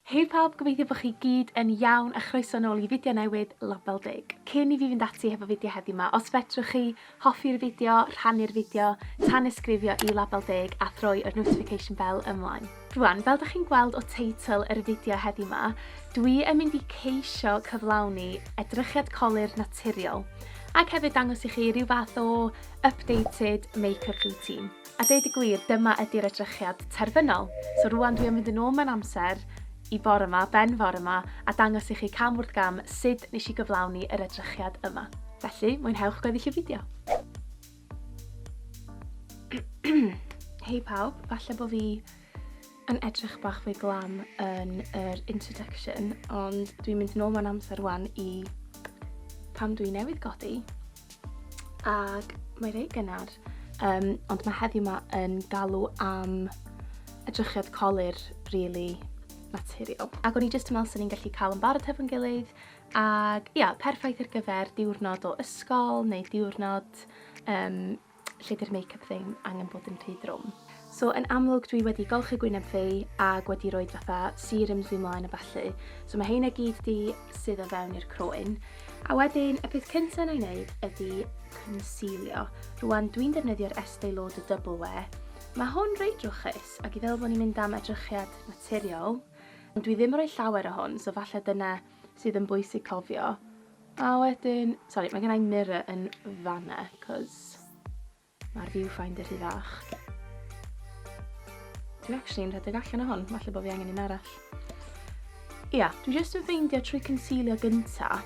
Hei pawb, gobeithio bod chi gyd yn iawn a chroeso nôl i fideo newydd Label Dug. Cyn i fi fynd ati hefo fideo heddiw 'ma, os fedrwch chi, hoffi'r fideo, rhannu'r fideo, tanysgrifio i Label Dug a throi yr notification bell ymlaen. Rwan, fel dych chi'n gweld o teitl yr fideo heddiw 'ma, dwi yn mynd i ceisio cyflawni edrychiad colur naturiol ac hefyd dangos i chi ryw fath o updated makeup routine. A deud y gwir, dyma ydi'r edrychiad terfynol. So rŵan dwi am fynd yn ôl mewn amser i fore 'ma, ben fore 'ma, a dangos i chi cam wrth gam sud nes i gyflawni yr edrychiad yma. Felly, mwynhewch gweddill y fideo. Hei pawb, falle bo fi yn edrych bach fwy glam yn yr introduction, ond dwi'n mynd nôl mewn amser wan i pam dwi newydd godi. Ac mae rei gynnar, um, ond mae heddiw yma yn galw am edrychiad colir really naturiol. Ac o'n i jyst yn meddwl sy'n ni'n gallu cael yn barod hefo'n gilydd, ac ia, perffaith ar gyfer diwrnod o ysgol neu diwrnod um, lle di'r make up ddim angen bod yn rhy drwm. So yn amlwg dwi wedi golchi gwyneb fi ag wedi roed fatha serums fi mlaen a ballu. So mae heina gyd di sydd o fewn i'r croen. A wedyn y peth cyntaf na i wneud ydy concealio. Rwan dwi'n defnyddio'r Estee Lauder Double Wear. Mae hwn reit drwchus ac i feddwl bod ni'n mynd am edrychiad naturiol. Ond dwi ddim yn rhoi llawer o hwn so falle dyna sydd yn bwysig cofio. A wedyn, sori, mae gennau mirror yn fanna, cos mae'r viewfinder rhy fach. Dwi'n actually yn rhedeg allan o hwn, falle bod fi angen un arall. Ia, dwi jyst yn ffeindio trwy concealio gynta,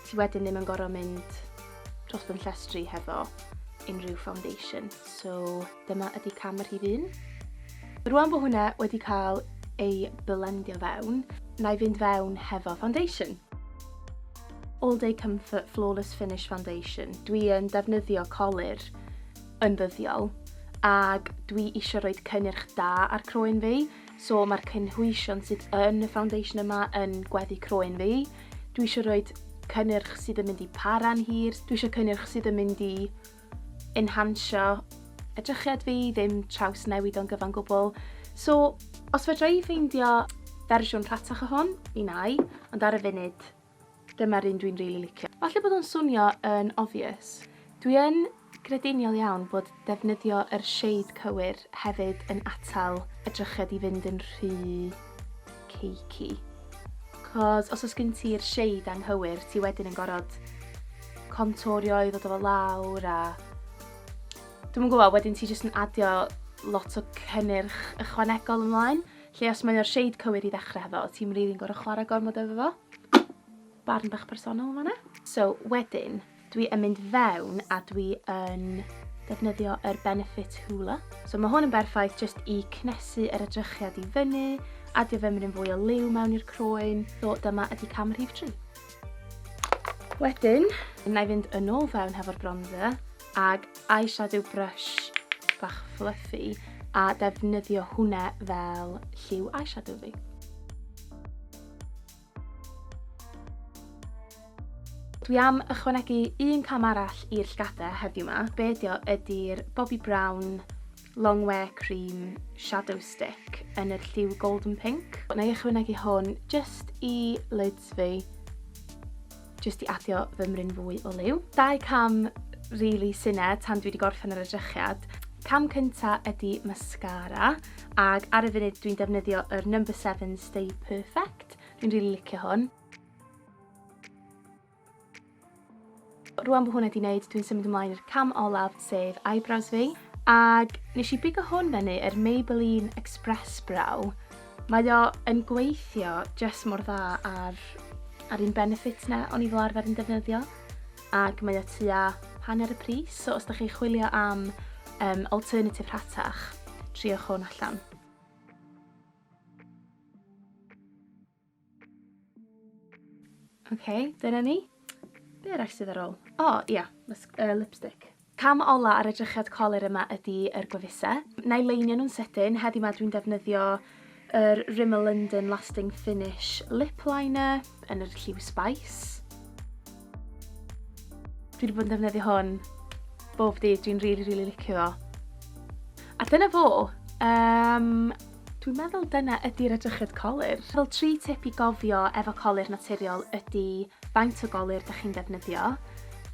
ti wedyn ddim yn gorfod mynd dros yn llestri hefo unrhyw foundation. So, Dyma ydi cam rhif un. Rwan bod hwnna wedi cael ei blendio fewn, na i fynd fewn hefo foundation. All Day Comfort Flawless Finish Foundation. Dwi yn defnyddio colir yn ddyddiol ac dwi eisiau rhoi cynnyrch da ar croen fi, so mae'r cynhwysion sydd yn y foundation yma yn gweddi croen fi. Dwi eisiau rhoi cynnyrch sydd yn mynd i para'n hir, dwi eisiau cynnyrch sydd yn mynd i enhansio edrychiad fi, ddim traws newid o'n gyfan gwbl. So, os fedra i ffeindio fersiwn rhatach o hwn, mi nai, ond ar y funud, dyma'r un dwi'n rili really licio. Falle bod o'n swnio yn obvious. Dwi yn grediniol iawn bod defnyddio yr shade cywir hefyd yn atal edrychiad i fynd yn rhy cakey. Cos os oes gen ti'r shade anghywir, ti wedyn yn gorfod contourio i ddod o fel lawr a... Dwi'n yn gwybod, wedyn ti jyst yn adio lot o cynnyrch ychwanegol ymlaen. Lle os mae o'r shade cywir i ddechrau hefo, ti'n rili'n gorfod chwarae gormod efo fo. Barn bach personol fanna. So, wedyn, dwi yn mynd fewn a dwi yn defnyddio yr Benefit Hula. So mae hwn yn berffaith jyst i cnesu yr edrychiad i fyny, adio fymryn fwy o liw mewn i'r croen, so dyma ydi cam rhif 3. Wedyn, na i fynd yn ôl fewn hefo'r bronzer ag eyeshadow brush bach fluffy a defnyddio hwnna fel lliw eyeshadow fi. Dwi am ychwanegu un cam arall i'r llgada heddiw ma. Be ydi o ydi'r Bobbi Brown Long Wear Cream Shadow Stick yn yr lliw Golden Pink. Na i ychwanegu hwn jyst i lids fi. jyst i adio fymryn fwy o liw. Dau cam rili syne tan dwi wedi gorffen yr edrychiad. Cam cynta ydy mascara, ag ar y funud dwi'n defnyddio yr Number 7 Stay Perfect. Dwi'n rili licio hwn. Rwan bod hwnna wedi wneud, dwi'n symud ymlaen i'r cam olaf, sef eyebrows fi. Ag nes i bigo hwn fyny, yr Maybelline Express Brow. Mae o yn gweithio jyst mor dda ar ar un benefit na o'n i fel arfer yn defnyddio ac mae o tua hanner y pris so os da chi'n chwilio am um, alternative rhatach, triwch hwn allan. OK, dyna ni. Be arall sydd ar ôl? O, oh, ia, yeah, uh, lipstick. Cam ola ar y drychiad colir yma ydy yr er gwefusau. Na i leinio nhw'n sydyn, heddi yma dwi'n defnyddio yr er Rimmel London Lasting Finish Lip Liner yn yr lliw Spice. Dwi wedi bod yn defnyddio hwn bob dydd, dwi'n rili, really, rili really licio fo. A dyna fo. Um, Dwi'n meddwl dyna ydi'r edrychyd colur. Fel tri tip i gofio efo colur naturiol ydi faint o golur da chi'n defnyddio,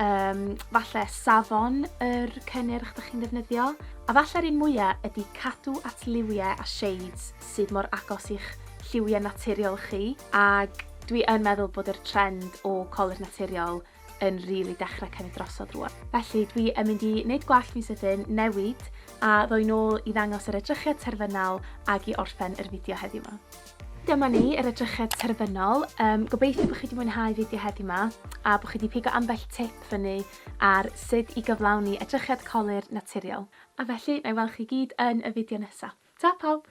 um, falle safon yr cynnyrch da chi'n defnyddio, a falle'r un mwyaf ydi cadw at liwiau a shades sydd mor agos i'ch lliwiau naturiol chi, ac dwi yn meddwl bod yr trend o colur naturiol yn rili really dechrau cynnig drosodd rwan. Felly dwi yn mynd i wneud gwallt fi sydyn, newid, a ddoi nôl i ddangos yr edrychiad terfynol ag i orffen yr fideo heddiw yma. Dyma ni, yr edrychiad terfynol. Um, gobeithio bod chi wedi mwynhau fideo heddiw yma a bod chi wedi pigo ambell tip fyny ar sut i gyflawni edrychiad colur naturiol. A felly, na i weld chi gyd yn y fideo nesaf. Ta pawb!